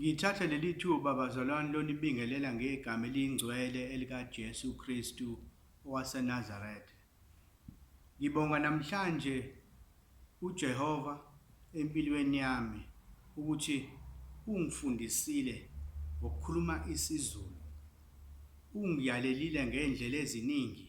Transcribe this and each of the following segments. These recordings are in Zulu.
Ngithatha leli thuba bazalwane lonibingelela ngegama eliyingcwele elikaJesu Kristu waseNazaretha. Ngibonga namhlanje uJehova empilweni yami ukuthi ungifundisile ngokukhuluma isiZulu. Ungiyalelile ngey'ndlela eziningi.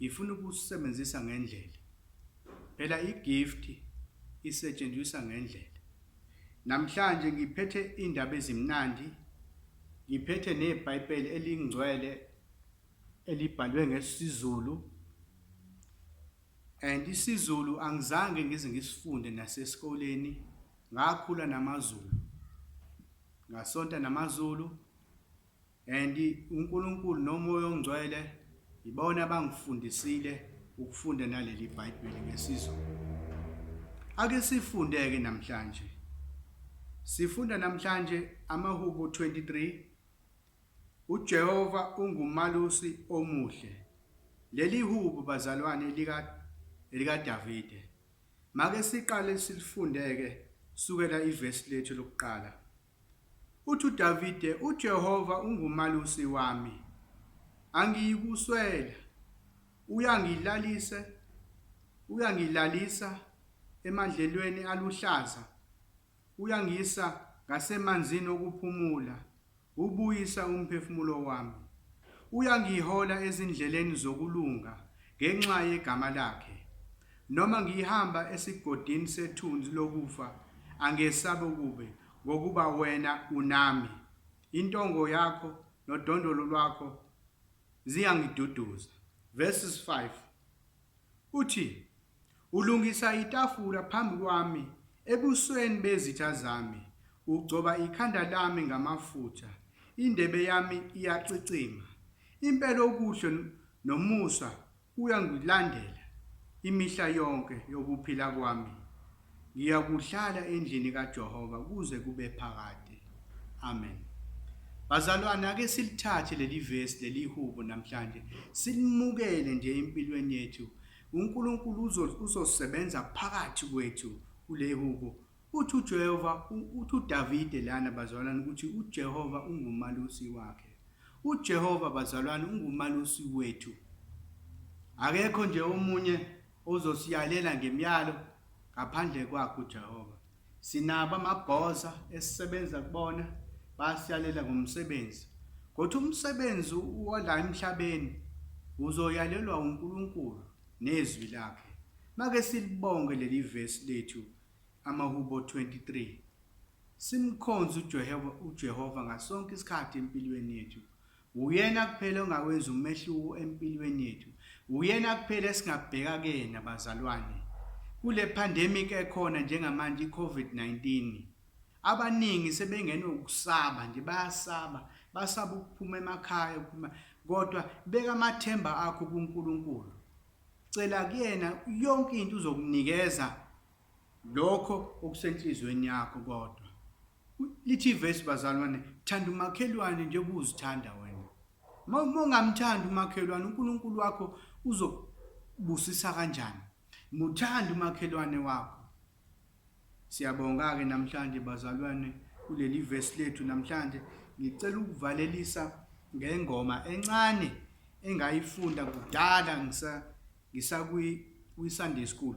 Ngifuna ukusisebenzisa ngendlela. Phela igift isetshenziswa ngendlela. Namhlanje ngiphethe indaba ezimnandi. Ngiphethe neBhayibheli elingcwele elibhalwe ngesiZulu. And isiZulu angizange ngize ngisifunde nasesikoleni ngakhula namaZulu. Ngasonta namaZulu And uNkulunkulu noMoya oNgcwele yibona abangifundisile ukufunda naleli Bhayibheli ngesiZulu. Ake sifundeke namhlanje. Sifunda namhlanje amaHubo 23 uJehova ungumalusi omuhle. Leli hubo bazalwane lika elika Davide. Make siqale silifundeke sukela ivesi lethu lokuqala. Uthi uDavide, UJehova ungumalusi wami, angiyikuswela. Uyangilalise, uyangilalisa emandlelweni aluhlaza, uyangisa ngasemanzini okuphumula, ubuyisa umphefumulo wami. Uyangihola ezindleleni zokulunga ngenxa yegama lakhe. Noma ngihamba esigodini sethunzi lokufa, angesabi ukube, ngokuba wena unami. Intongo yakho nodondolo lwakho ziyangiduduza. Verses 5 uthi, Ulungisa itafula phambi kwami ebusweni bezitha zami, ugcoba ikhanda lami ngamafutha, indebe yami iyacicima. Impela okuhle nomusa Uyangilandela imihla yonke yokuphila kwami, ngiyakuhlala endlini kaJehova kuze kube phakade. Amen. Bazalwane, ake silithathe leli vesi leli hubo namhlanje, silimukele nje empilweni yethu. UNkulunkulu uzosebenza phakathi kwethu kule hubo Uthi uJehova, uthi uDavide lana bazalwane ukuthi uJehova ungumalusi wakhe. UJehova bazalwane ungumalusi wethu. Akekho nje omunye ozosiyalela ngemyalo ngaphandle kwakhe uJehova. Sinabo amabhoza esisebenza kubona basiyalela ngomsebenzi. Kodwa umsebenzi wala emhlabeni uzoyalelwa uNkulunkulu nezwi lakhe. Make silibonge leli vesi lethu Amahubo 23 Simkhonze uJehova, uJehova ngasonke isikhathi empilweni yethu. Uyena kuphela ongawenza umehluko empilweni yethu. Uyena kuphela esingabheka kuyena bazalwane. Kule pandemic ekhona njengamanje iCovid-19. Abaningi sebengene ukusaba nje bayasaba, basaba ukuphuma emakhaya ukuphuma kodwa beka amathemba akho kuNkulunkulu. Cela kuyena yonke into uzokunikeza lokho okusenhlizweni yakho kodwa lithi ivesi bazalwane thanda umakhelwane njengoba uzithanda wena uma ungamthanda umakhelwane uNkulunkulu wakho uzokubusisa kanjani muthanda umakhelwane wakho Siyabonga-ke namhlanje bazalwane kuleli vesi lethu namhlanje ngicela ukuvalelisa ngengoma encane engayifunda kudala ngisa ngisakwi kwi Sunday school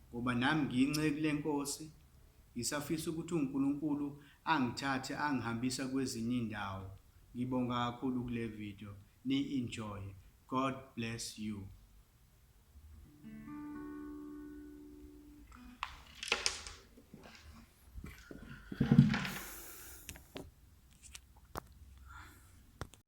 Ngoba nami ngiyinceku lenkosi, ngisafisa ukuthi uNkulunkulu angithathe angihambisa kwezinye indawo. Ngibonga kakhulu kule video, niyi enjoye. God bless you.